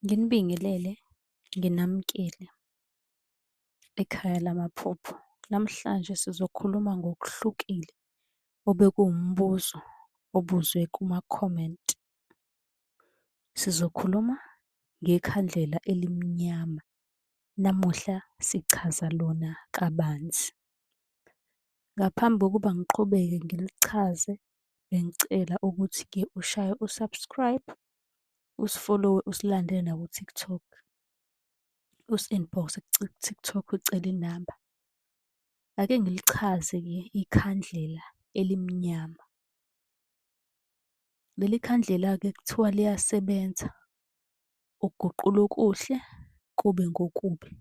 Nginibingelele, nginamukele ekhaya lamaphupho. Namhlanje sizokhuluma ngokuhlukile obekuwumbuzo obuzwe kuma-comment. Sizokhuluma ngekhandlela elimnyama. Namuhla sichaza lona kabanzi. Ngaphambi kokuba ngiqhubeke ngilichaze, bengicela ukuthi-ke ushaye u-subscribe usifolowe usilandele naku-TikTok. Usi-inbox-e ku-TikTok ucele inamba. Ake ngilichaze-ke ikhandlela elimnyama. Leli khandlela-ke kuthiwa liyasebenza ukuguqula okuhle kube ngokubi.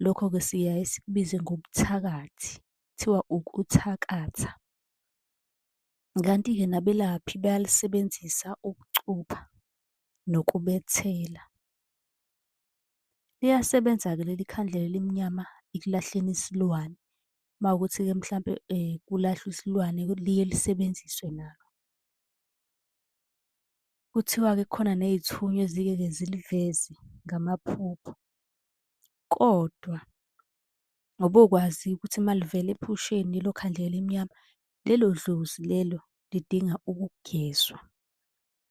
Lokho-ke siyaye sikubize ngobuthakathi, kuthiwa ukuthakatha. Kanti-ke nabelaphi bayalisebenzisa ukucupha nokubethela. Liyasebenza-ke leli khandlela elimnyama ekulahleni isilwane. Uma kuwukuthi-ke mhlampe kulahlwa isilwane liye lisebenziswe nalo. Kuthiwa-ke kukhona ney'thunywa ezike-ke ziliveze ngamaphupho. Kodwa ngobokwazi ukuthi uma livela ephusheni lelo khandlela elimnyama Lelo dlozi lelo lidinga ukugezwa.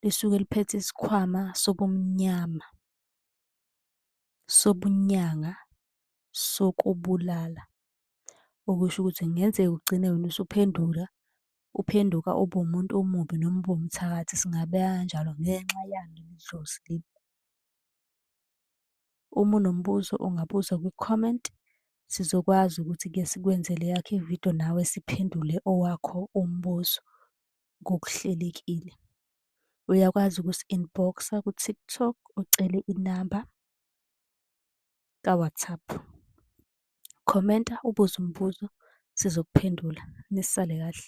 Lisuke liphethe isikhwama sobumnyama, sobunyanga, sokubulala. Okusho ukuthi kungenzeka ugcine wena usuphendula, uphenduka ube umuntu omubi noma ube umthakathi singabeka kanjalo ngenxa yalo leli dlozi leli. Uma unombuzo ungabuza kwi-comment, sizokwazi ukuthi-ke sikwenzele eyakho ividiyo nawe siphendule owakho umbuzo ngokuhlelekile. Uyakwazi ukusi-inbox-a ku-TikTok ucele inamba ka-WhatsApp. Khomenta ubuze umbuzo sizokuphendula. Nisale kahle.